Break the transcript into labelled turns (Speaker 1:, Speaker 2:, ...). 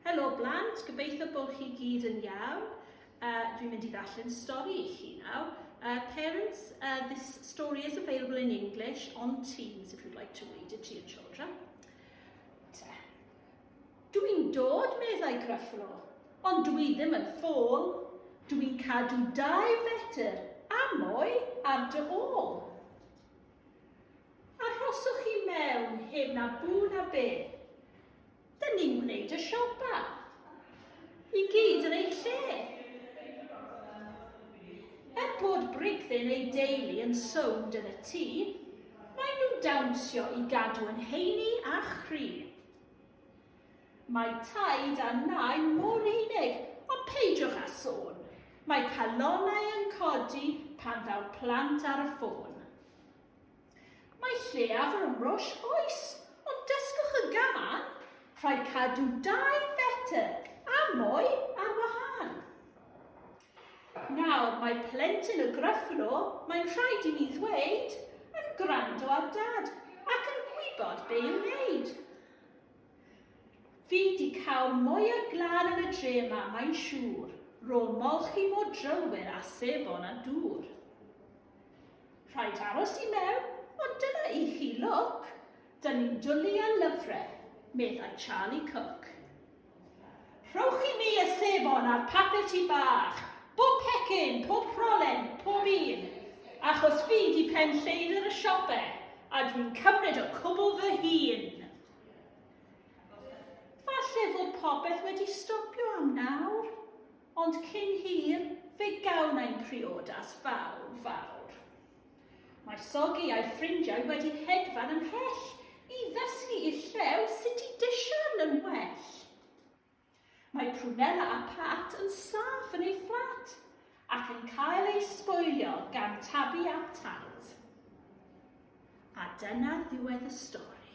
Speaker 1: Helo blant, gobeithio bod chi gyd yn iawn. Uh, dwi'n mynd i ddarllen stori i chi nawr. Uh, parents, uh, this story is available in English on Teams if you'd like to read it to your children. Te. Dwi'n dod, meddai Gruffalo, ond dwi ddim yn ffôl. Dwi'n cadw dau fetr a mwy ar dy ôl. Arhoswch chi mewn heb na bŵ na beth Dyn ni'n gwneud y siopa. I gyd yn ei lle. Er bod Brigdyn ei deulu yn sownd yn y tŷ, mae nhw dawnsio i gadw yn heini a chri. Mae taid a nai mor unig, ond peidiwch â sôn. Mae calonau yn codi pan ddaw plant ar y ffôn. Mae lleiaf o ymrosh oes, ond dysgwch y gan, rhaid cadw dau fetr a mwy ar wahân. Nawr, mae plentyn y Gruffalo, mae'n rhaid i mi ddweud, yn gwrando ar dad ac yn gwybod be i'w wneud. Fi di cael mwy o glân yn y dre yma, mae'n siŵr. Ro molchi mor drylwyr a sebon a dŵr. Rhaid aros i mewn, ond dyna i chi lwc. Dyn ni'n dwlu ar lyfrau, meddai Charlie Cook. Rhowch i mi y sebon a'r papur tu bach, bob pecyn, pob rholen, pob un, achos fi di pen lleidr y siope, a dwi'n cymryd y cwbl fy hun. Falle fod popeth wedi stopio am nawr, Ond cyn hir, fe gawn ein priodas fawr, fawr. Mae Sogi a'i ffrindiau wedi hedfan ymhell i ddysgu i'r llew sut i disian yn well. Mae Prunella a Pat yn saff yn eu fflat ac yn cael eu sboilio gan Tabi a Tad. A dyna ddiwedd y stori.